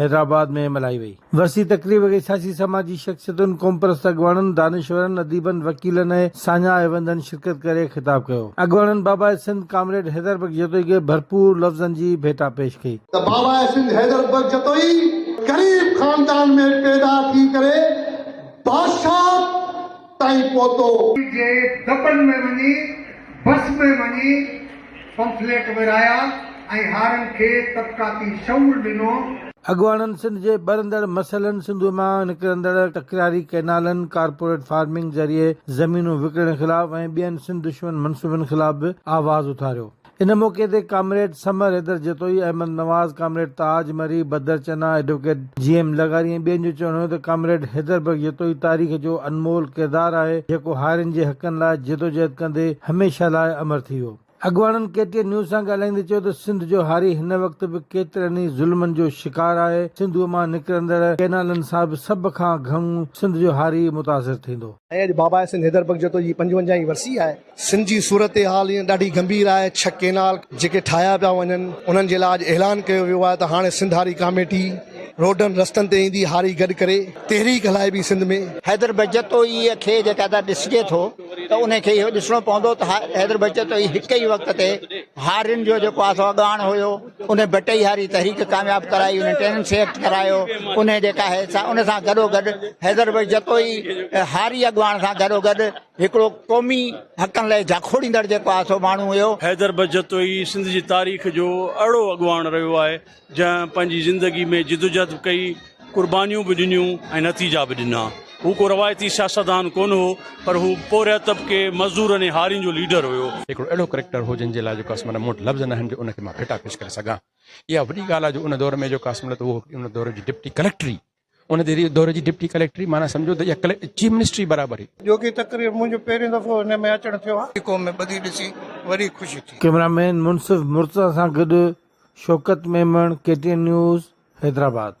حيدرآباد ۾ ملهائي وئي. وسيع تقريب کي سياسي سماجي شخصيتن، قومپرست اڳواڻن، دانشورن، اديبن، وڪيلن ۽ ساڃاهه هيوندن شرڪت ڪري خطاب ڪيو. اڳواڻن باباء سنڌ ڪامريڊ حيدر بخش جتوئي کي ڀرپور لفظن جي ڀيٽا پيش ڪئي. ته باباء سنڌ حيدر بخش جتوئي غريب خاندان ۾ پيدا ٿي ڪري بادشاهه تائين پهتو. جي دٻن ۾ وڃي بس ۾ وڃي پمفليٽ ورهايا ۽ هارن کي طبقاتي شعور ڏنو. اڳواڻن سنڌ جي ٻرندڙ مسئلن، سنڌوء مان نڪرندڙ تڪراري ڪئنالن، ڪارپوريٽ فارمنگ ذريعي زمينون وڪڻڻ خلاف ۽ ٻين سنڌ دشمن منصوبن خلاف به آواز اٿاريو. ان موقعي تي comrade Samar Haider Jatoi, Ahmed Nawaz, comrade Taj Marri, Badar Channa, advocate جي ايم لغاري ۽ ٻين جو چوڻ هيو ته ڪامريڊ حيدر بخش جتوئي تاريخ جو انمول ڪردار آهي جيڪو هارين جي حقن لاء جدوجهد ڪندي هميشه لاء امر ٿي ويو. اڳواڻن ڪي ٽي اين نيوز سان ڳالهائيندي چيو ته سنڌ جو هاري هن وقت به ڪيترن ئي ظلمن جو شڪار آهي، سنڌوء مان نڪرندڙ ڪئنالن سان به سڀ کان گهڻو سنڌ جو هاري ئي متاثر ٿيندو. ۽ اڄ بابا سنڌ حيدر بخش جتوئي جي پنجونجاهين ورسي آهي. سنڌ جي صورتحال هينئر ڏاڍي گنڀير آهي، ڇهه ڪينال جيڪي ٺاهيا پيا وڃن انهن جي لاء اڄ اعلان ڪيو ويو آهي ته هاڻي سنڌ هاري ڪاميٽي روڊن رستن تي ايندي، هاري گڏ ڪري تحريڪ هلائبي سنڌ ۾. حيدر بهجتو ئي کي جيڪڏهن ڏسجي ٿو ته ان کي اهو ڏسڻو پوندو ته حيدر بهجتو ئي هڪ ئي وقت تي هارين جو جيڪو آهي سو اڳواڻ هيو انهن بٽئي هاري تحريڪ ڪامياب ڪرائي انهن ٽيننسي ايڪٽ ڪرايو انهن جيڪا آهي سا ان سان گڏو گڏ حيدر بهجتو ئي هاري اڳواڻ سان گڏو گڏ هڪڙو قومي حقن لاء جاکوڙيندڙ جيڪو آهي سو ماڻهو هيو. حيدر بخش جتوئي سنڌ جي تاريخ جو اهڙو اڳواڻ رهيو آهي، جنهن پنهنجي زندگي ۾ جدوجهد به ڪئي، قربانيون به ڏنيون ۽ نتيجا به ڏنا. هو ڪو روايتي سياستدان ڪونه هو، پر هو پورهيت طبقي، مزدورن ۽ هارين جو ليڊر هيو. هڪڙو اهڙو ڪريڪٽر هو، جنهن جي لاء جو قاسم علت، مون وٽ لفظ ناهن جو ان کي مان ڀيٽا پيش ڪري سگهان. اها وڏي ڳالهه آهي جو ان دور ۾ جو قاسم علت هو، هڪڙي ان دور جي ڊپٽي ڪليڪٽري ان دور جي ڊپٽي ڪليڪٽري معنيٰ سمجهو ته اها ڪليڪٽري چيف منسٽري برابر هئي. جوڳي تقرير منهنجو پهريون دفعو هن ۾ اچڻ ٿيو آهي. قوم ۾ ٻڌي ڏسي وڏي خوشي ٿي. ڪيمرا مين منصف مرتضيٰ سان گڏ Shaukat Memon, K T N news, Hyderabad.